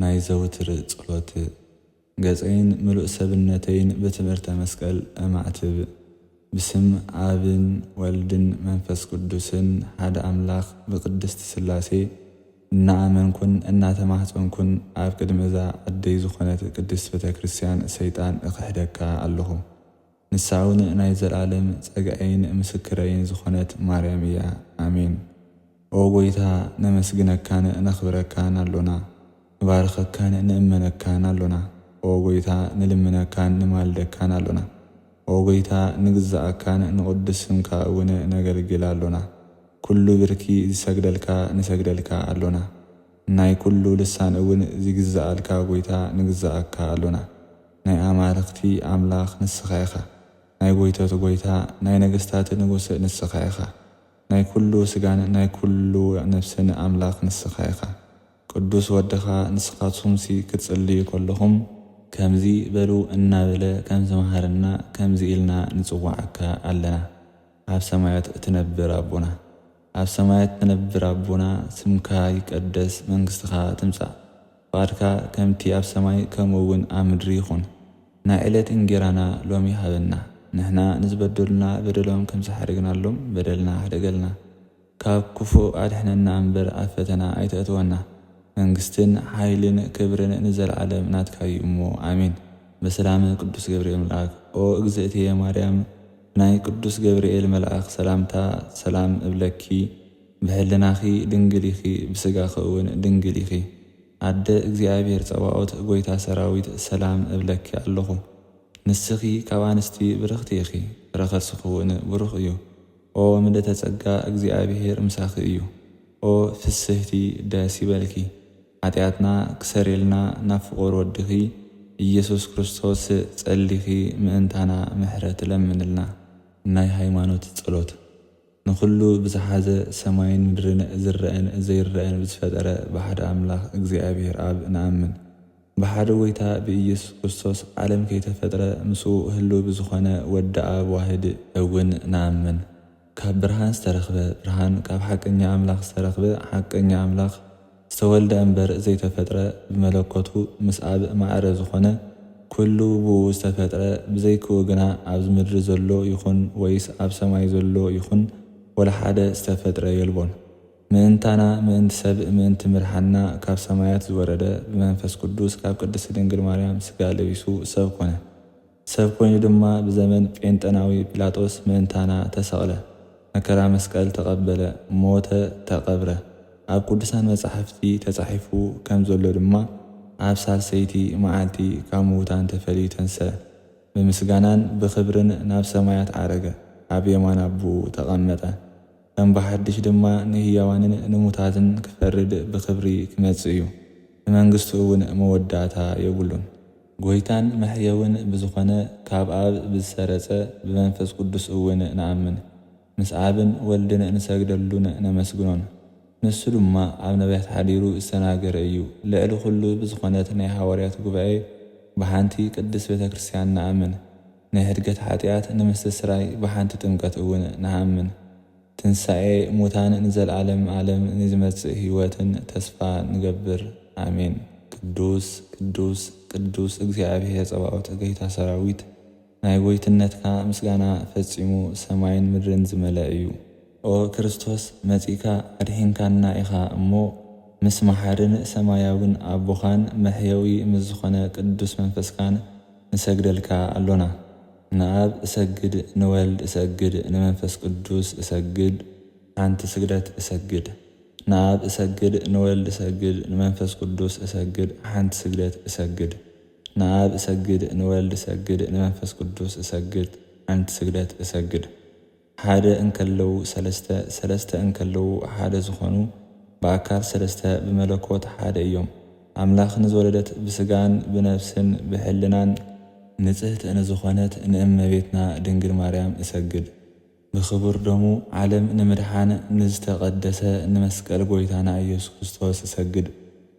ናይ ዘውትር ጸሎት ገጸይን ምሉእ ሰብነተይን ብትምህርተ መስቀል እማዕትብ። ብስም ኣብን ወልድን መንፈስ ቅዱስን ሓደ ኣምላኽ ብቅድስት ሥላሴ እናኣመንኩን እናተማህጸንኩን ኣብ ቅድሚ እዛ ዓደይ ዝኾነት ቅድስት ቤተክርስትያን ሰይጣን እኽሕደካ ኣለኹ። ንሳውን ናይ ዘልኣለም ጸግኣይን ምስክረይን ዝኾነት ማርያም እያ ኣሜን ኦ ጎይታ ነመስግነካን ነኽብረካን ኣሎና ንባርኸካን ንእመነካን ኣሎና ኦ ጎይታ ንልምነካን ንማልደካን ኣሎና ኦ ጎይታ ንግዝኣካን ንቅዱስ ስምካ እውን ነገልግል ኣሎና ኩሉ ብርኪ ዝሰግደልካ ንሰግደልካ ኣሎና ናይ ኩሉ ልሳን እውን ዚግዝኣልካ ጎይታ ንግዝኣካ ኣሎና ናይ ኣማልኽቲ ኣምላኽ ንስኻ ኢኻ፣ ናይ ጎይቶት ጎይታ፣ ናይ ነገስታት ንጉስ ንስኻ ኢኻ፣ ናይ ኩሉ ስጋን ናይ ኩሉ ነፍስን ኣምላኽ ንስኻ ኢኻ፣ ቅዱስ ወድኻ፣ ንስኻትኩምሲ ክትጽልዩ ከለኹም፣ ከምዚ በሉ እናበለ ከም ዝመሃረና ከምዚ ኢልና ንጽውዓካ ኣለና፣ ኣብ ሰማያት እትነብር ኣቦና። ኣብ ሰማያት እትነብር ኣቦና፣ ስምካ ይቀደስ፣ መንግስትኻ ትምጻእ። ፍቓድካ ከምቲ ኣብ ሰማይ ከምኡውን ኣብ ምድሪ ይኹን። ናይ ዕለት እንጌራና ሎሚ ሃበና። ንሕና ንዝበደሉና በደሎም ከም ዝሓደግናሎም በደልና ሕደገልና። ካብ ክፉእ ኣድሕነና እምበር ኣብ ፈተና ኣይተእትወና። መንግስትን ሓይልን ክብርን ንዘለዓለም ናትካ እዩ እሞ ኣሜን። በሰላመ ቅዱስ ገብርኤል መልኣክ ኦ እግዝእትየ ማርያም ብናይ ቅዱስ ገብርኤል መልኣክ ሰላምታ ሰላም እብለኪ። ብሕልናኺ ድንግል ኢኺ ብስጋኺ እውን ድንግል ኢኺ ኣደ እግዚኣብሔር ፀባኦት ጎይታ ሰራዊት ሰላም እብለኪ ኣለኹ ንስኺ ካብ ኣንስቲ ብርኽቲ ኢኺ ፍረከርስኺ እውን ብሩኽ እዩ ኦ ምልእተ ፀጋ እግዚኣብሔር ምሳኺ እዩ ኦ ፍስህቲ ደስ ይበልኪ ሓጢኣትና ክሰሬልና ናብ ፍቁር ወድኺ እየሱስ ክርስቶስ ፀሊኺ ምእንታና ምሕረት ለምንልና ናይ ሃይማኖት ፀሎት። ንኹሉ ብዝሓዘ ሰማይን ምድርን ዝረኣን ዘይረኣን ብዝፈጠረ ብሓደ ኣምላኽ እግዚኣብሔር ኣብ ንኣምን። ብሓደ ጎይታ ብኢየሱስ ክርስቶስ ዓለም ከይተፈጥረ ምስኡ ህልው ብዝኾነ ወዲ ኣብ ዋህድ እውን ንኣምን። ካብ ብርሃን ዝተረኽበ ብርሃን ካብ ሓቀኛ ኣምላኽ ዝተረኽበ ሓቀኛ ኣምላኽ። ዝተወልደ እምበር ዘይተፈጥረ ብመለኮቱ ምስ ኣብ ማዕረ ዝኾነ ኩሉ ብኡ ዝተፈጥረ ብዘይክኡ ግና ኣብዚ ምድሪ ዘሎ ይኹን ወይስ ኣብ ሰማይ ዘሎ ይኹን ወላሓደ ዝተፈጥረ የልቦን ምእንታና ምእንቲ ሰብ ምእንቲ ምድሓንና ካብ ሰማያት ዝወረደ ብመንፈስ ቅዱስ ካብ ቅድስቲ ድንግል ማርያም ስጋ ለቢሱ ሰብ ኮነ ሰብ ኮይኑ ድማ ብዘመን ጴንጠናዊ ጲላጦስ ምእንታና ተሰቕለ፣ መከራ መስቀል ተቐበለ፣ ሞተ፣ ተቐብረ። ኣብ ቅዱሳን መጻሕፍቲ ተጻሒፉ ከም ዘሎ ድማ ኣብ ሳልሰይቲ መዓልቲ ካብ ምዉታን ተፈልዩ ተንሥአ፣ ብምስጋናን ብኽብርን ናብ ሰማያት ዓረገ፣ ኣብ የማን ኣቦኡ ተቐመጠ፣ ከም ብሓድሽ ድማ ንህያዋንን ንሙታትን ክፈርድ ብኽብሪ ክመጽእ እዩ፣ ንመንግሥቱ እውን መወዳእታ የብሉን። ጐይታን መሕየውን ብዝኾነ ካብ ኣብ ብዝሰረጸ ብመንፈስ ቅዱስ እውን ንኣምን። ምስ ኣብን ወልድን ንሰግደሉን ነመስግኖን። ንሱ ድማ ኣብ ነቢያት ሓዲሩ ዝተናገረ እዩ። ልዕሊ ኹሉ ብዝኾነት ናይ ሓዋርያት ጉባኤ ብሓንቲ ቅድስት ቤተ ክርስቲያን ንኣምን። ንሕድገት ሓጢኣት ንምስትስራይ ብሓንቲ ጥምቀት እውን ንኣምን። ትንሳኤ ሙታን ንዘልኣለም ኣለም ንዝመጽእ ህይወትን ተስፋ ንገብር ኣሜን ቅዱስ ቅዱስ ቅዱስ እግዚኣብሔር ጸባኦት ገይታ ሰራዊት ናይ ጎይትነትካ ምስጋና ፈጺሙ ሰማይን ምድርን ዝመለእ እዩ ኦ ክርስቶስ መጺእካ ኣድሒንካና ኢኻ እሞ ምስ መሓርን ሰማያዊን ኣቦኻን መሕየዊ ምስ ዝኾነ ቅዱስ መንፈስካን ንሰግደልካ ኣሎና። ንኣብ እሰግድ ንወልድ እሰግድ ንመንፈስ ቅዱስ እሰግድ ሓንቲ ስግደት እሰግድ ንኣብ እሰግድ ንወልድ እሰግድ ንመንፈስ ቅዱስ እሰግድ ሓንቲ ስግደት እሰግድ ንኣብ እሰግድ ንወልድ እሰግድ ንመንፈስ ቅዱስ እሰግድ ሓንቲ ስግደት እሰግድ። ሓደ እንከለዉ ሠለስተ፣ ሠለስተ እንከለዉ ሓደ ዝኾኑ፣ ብኣካል ሠለስተ ብመለኮት ሓደ እዮም። ኣምላኽ ንዝወለደት ብሥጋን ብነፍስን ብኅልናን፣ ንጽህት ንዝኾነት ንእመቤትና ድንግል ማርያም እሰግድ ብክቡር ደሙ ዓለም ንምድኃን ንዝተቀደሰ ንመስቀል ጐይታና ኢየሱስ ክርስቶስ እሰግድ።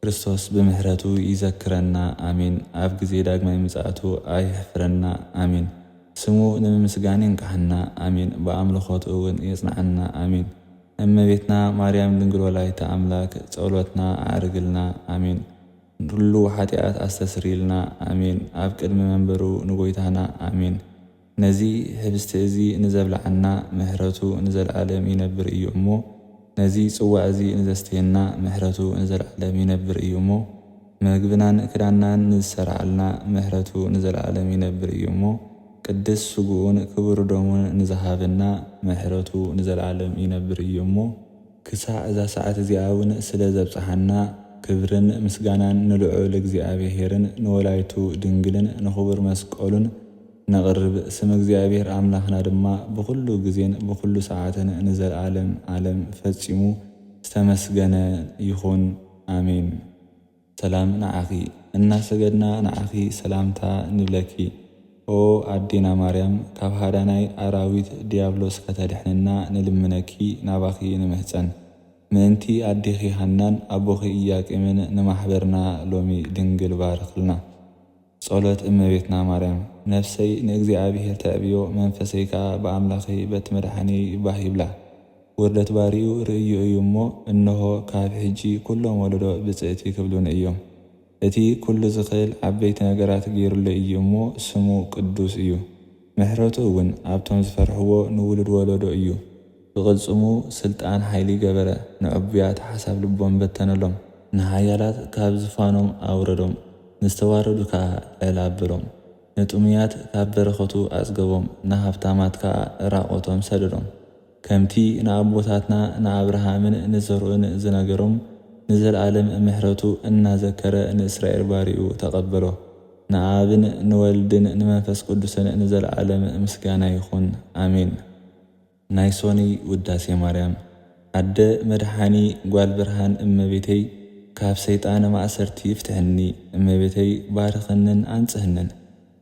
ክርስቶስ ብምሕረቱ ይዘክረና ኣሜን ኣብ ግዜ ዳግማይ ምጽኣቱ ኣይሕፍረና ኣሜን ስሙ ንምምስጋን የንቅሓና ኣሜን ብኣምልኾት እውን የጽንዓና ኣሜን እመቤትና ማርያም ድንግል ወላዲተ ኣምላክ ጸሎትና ኣዕርግልና ኣሜን ንሉ ሓጢኣት ኣስተስርይልና ኣሜን ኣብ ቅድሚ መንበሩ ንጎይታና ኣሜን ነዚ ህብስቲ እዚ ንዘብልዓና ምሕረቱ ንዘለዓለም ይነብር እዩ እሞ፣ ነዚ ጽዋዕ እዚ ንዘስተየና ምሕረቱ ንዘለዓለም ይነብር እዩ እሞ፣ መግብናን ክዳንናን ንዝሠርዓልና ምሕረቱ ንዘለዓለም ይነብር እዩ እሞ፣ ቅድስ ሥግኡን ክቡር ደሙን ንዝሃበና ምሕረቱ ንዘለዓለም ይነብር እዩ እሞ፣ ክሳዕ እዛ ሰዓት እዚኣ እውን ስለ ዘብጽሓና ክብርን ምስጋናን ንልዑል እግዚኣብሔርን ንወላዲቱ ድንግልን ንኽቡር መስቀሉን ነቕርብ ስም እግዚኣብሔር ኣምላኽና ድማ ብኹሉ ግዜን ብኹሉ ሰዓትን ንዘልኣለም ኣለም ፈጺሙ ዝተመስገነ ይኹን ኣሜን። ሰላም ንዓኺ እናሰገድና ንዓኺ ሰላምታ ንብለኪ ኦ ኣዴና ማርያም ካብ ሃዳናይ ኣራዊት ድያብሎስ ከተድሕንና ንልምነኪ ናባኺ ንምህጸን ምእንቲ ኣዴኺ ሃናን ኣቦኺ ኢያቄምን ንማሕበርና ሎሚ ድንግል ባርኽልና ጸሎት እመቤትና ማርያም ነፍሰይ ንእግዚኣብሔር ተዕብዮ መንፈሰይ ከኣ ብኣምላኸይ በቲ መድሓኒየይ ባህ ይብላ። ውርደት ባርዩ ርእዩ እዩ እሞ እንሆ ካብ ሕጂ ኩሎም ወለዶ ብጽእቲ ክብሉኒ እዮም። እቲ ኩሉ ዝኽእል ዓበይቲ ነገራት ገይሩለይ እዩ እሞ ስሙ ቅዱስ እዩ። ምሕረቱ እውን ኣብቶም ዝፈርሕዎ ንውሉድ ወለዶ እዩ። ብቕልጽሙ ስልጣን ሓይሊ ገበረ፣ ንዕቡያት ሓሳብ ልቦም በተነሎም፣ ንሓያላት ካብ ዝፋኖም ኣውረዶም፣ ንዝተዋረዱ ከኣ ልዕል ኣበሎም። ንጥሙያት ካብ በረኸቱ ኣጽገቦም፣ ንሃብታማት ከኣ ራቖቶም ሰደዶም። ከምቲ ንኣቦታትና ንኣብርሃምን ንዘርኡን ዝነገሮም ንዘልኣለም ምሕረቱ እናዘከረ ንእስራኤል ባሪኡ ተቀበሎ። ንኣብን ንወልድን ንመንፈስ ቅዱስን ንዘልኣለም ምስጋና ይኹን ኣሜን። ናይ ሶኑይ ውዳሴ ማርያም። ኣደ መድሓኒ ጓል ብርሃን እመቤተይ ካብ ሰይጣን ማእሰርቲ ፍትሕኒ እመቤተይ ባርኽንን ኣንጽህንን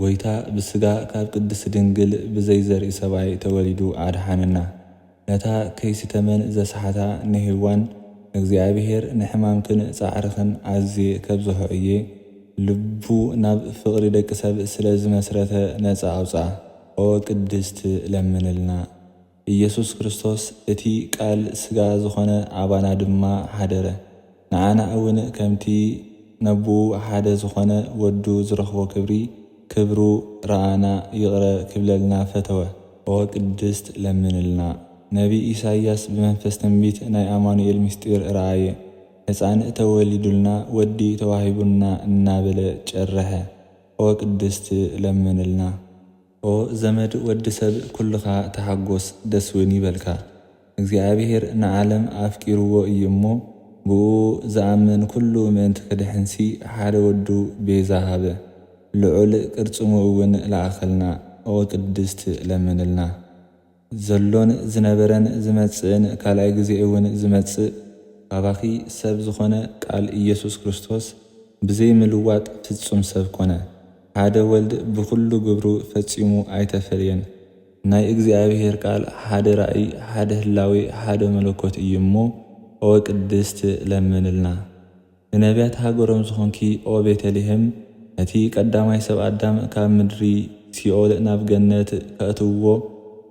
ጎይታ ብስጋ ካብ ቅድስት ድንግል ብዘይ ዘርኢ ሰብኣይ ተወሊዱ ኣድሓነና። ነታ ከይሲ ተመን ዘስሓታ ንሄዋን እግዚኣብሔር ንሕማምክን ጻዕርኽን ኣዝየ ከብዝሖ እየ ልቡ ናብ ፍቅሪ ደቂ ሰብ ስለ ዝመስረተ ነጻ ኣውጽኣ። ኦ ቅድስት ለምንልና። ኢየሱስ ክርስቶስ እቲ ቃል ሥጋ ዝኾነ ኣባና ድማ ኃደረ። ንኣና እውን ከምቲ ነቦኡ ሓደ ዝኾነ ወዱ ዝረኽቦ ክብሪ ክብሩ ረኣና ይቕረ ክብለልና ፈተወ። ኦ ቅድስት ለምንልና። ነቢይ ኢሳይያስ ብመንፈስ ትንቢት ናይ ኣማኑኤል ምሥጢር ረኣየ። ሕፃን ተወሊዱልና ወዲ ተዋሂቡና እናበለ ጨረሐ። ኦ ቅድስት ለምንልና። ኦ ዘመድ ወዲ ሰብ ኩልኻ ተሓጎስ ደስ ውን ይበልካ እግዚኣብሄር ንዓለም ኣፍቂርዎ እዩ እሞ ብእኡ ዝኣምን ኩሉ ምእንቲ ክድሕንሲ ሓደ ወዱ ቤዛ ሃበ ልዑል ቅርጽሙ እውን ለኣኸልና ኦ ቅድስት ለምንልና። ዘሎን ዝነበረን ዝመጽእን ካልኣይ ግዜ'ውን ዝመጽእ ካባኺ ሰብ ዝኾነ ቃል ኢየሱስ ክርስቶስ ብዘይ ምልዋጥ ፍጹም ሰብ ኮነ። ሓደ ወልድ ብኹሉ ግብሩ ፈጺሙ ኣይተፈልየን። ናይ እግዚኣብሔር ቃል ሓደ ራእይ ሓደ ህላዌ ሓደ መለኮት እዩ እሞ ኦቅድስት ለምንልና። ንነብያት ሃገሮም ዝኾንኪ ኦ ቤተልሔም፣ ነቲ ቀዳማይ ሰብ ኣዳም ካብ ምድሪ ሲኦል ናብ ገነት ከእትውዎ፣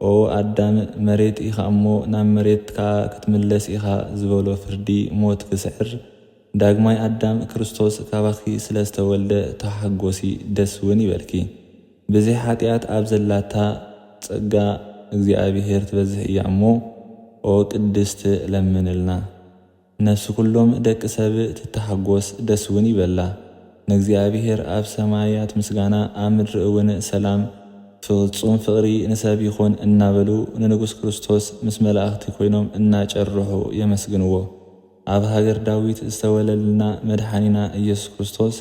ኦ ኣዳም፣ መሬት ኢኻ እሞ ናብ መሬት ከኣ ክትምለስ ኢኻ ዝበሎ ፍርዲ ሞት ክስዕር፣ ዳግማይ ኣዳም ክርስቶስ ካባኺ ስለ ዝተወልደ ተሓጎሲ ደስ ውን ይበልኪ። ብዘይ ሓጢኣት ኣብ ዘላታ ጸጋ እግዚኣብሔር ትበዝሕ እያ እሞ ኦ ቅድስት ለምንልና። ነፍሲ ኩሎም ደቂ ሰብ ትተሓጎስ ደስ ውን ይበላ። ንእግዚኣብሄር ኣብ ሰማያት ምስጋና ኣብ ምድሪ እውን ሰላም ፍጹም ፍቕሪ ንሰብ ይኹን እናበሉ ንንጉስ ክርስቶስ ምስ መላእኽቲ ኮይኖም እናጨርሑ የመስግንዎ። ኣብ ሃገር ዳዊት ዝተወለልና መድሓኒና ኢየሱስ ክርስቶስ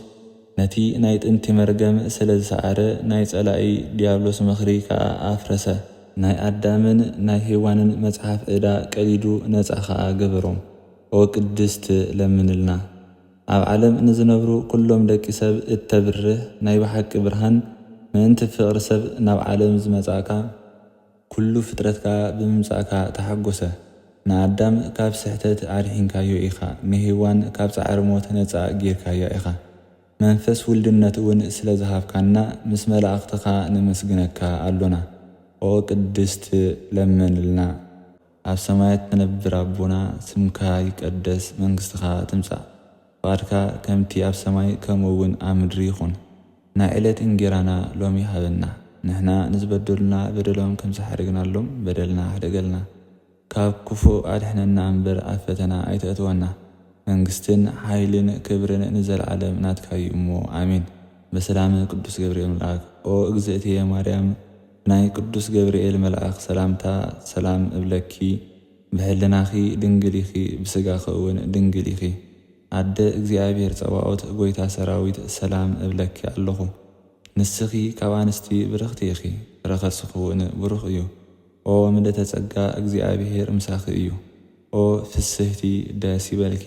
ነቲ ናይ ጥንቲ መርገም ስለ ዝሰዓረ ናይ ጸላኢ ድያብሎስ ምኽሪ ከኣ ኣፍረሰ። ናይ ኣዳምን ናይ ሄዋንን መጽሓፍ እዳ ቀዲዱ ነጻ ከኣ ገበሮም። ኦ ቅድስት ለምንልና። ኣብ ዓለም ንዝነብሩ ኩሎም ደቂ ሰብ እተብርህ ናይ ብሓቂ ብርሃን ምእንቲ ፍቕሪ ሰብ ናብ ዓለም ዝመጻእካ፣ ኩሉ ፍጥረት ከኣ ብምምጻእካ ተሓጐሰ። ንኣዳም ካብ ስሕተት ኣድሒንካዮ ኢኻ፣ ንሄዋን ካብ ጻዕሪ ሞት ነጻ ጌርካያ ኢኻ። መንፈስ ውልድነት'ውን ስለ ዝሃብካና ምስ መላእኽትኻ ነመስግነካ ኣሎና። ኦቅድስት ለምንልና። ኣብ ሰማያት ትነብር ኣቦና ስምካ ይቀደስ መንግስትካ ትምጻእ ፍቃድካ ከምቲ ኣብ ሰማይ ከምኡ ውን ኣብ ምድሪ ይኩን ናይ ዕለት እንጌራና ሎሚ ሃበና ንሕና ንዝበደሉና በደሎም ከምዝሓደግናሎም በደልና ሕደገልና ካብ ክፉእ ኣድሕነና እምበር ኣብ ፈተና ኣይተእትወና መንግስትን ሓይልን ክብርን ንዘልኣለም ናትካዩ እሞ ኣሜን በሰላመ ቅዱስ ገብርኤል መልኣክ ኦ እግዝእትየ ማርያም ናይ ቅዱስ ገብርኤል መልኣክ ሰላምታ ሰላም እብለኪ ብሕልናኪ ድንግል ኢኪ ብስጋኪ እውን ድንግል ኢኪ ኣደ እግዚኣብሔር ፀባኦት ጎይታ ሰራዊት ሰላም እብለኪ ኣለኩ ንስኪ ካብ ኣንስቲ ብርክቲ ኢኪ ረከስኪ እውን ብሩክ እዩ ኦ ምልእተ ፀጋ እግዚኣብሔር ምሳኪ እዩ ኦ ፍስህቲ ደስ ይበልኪ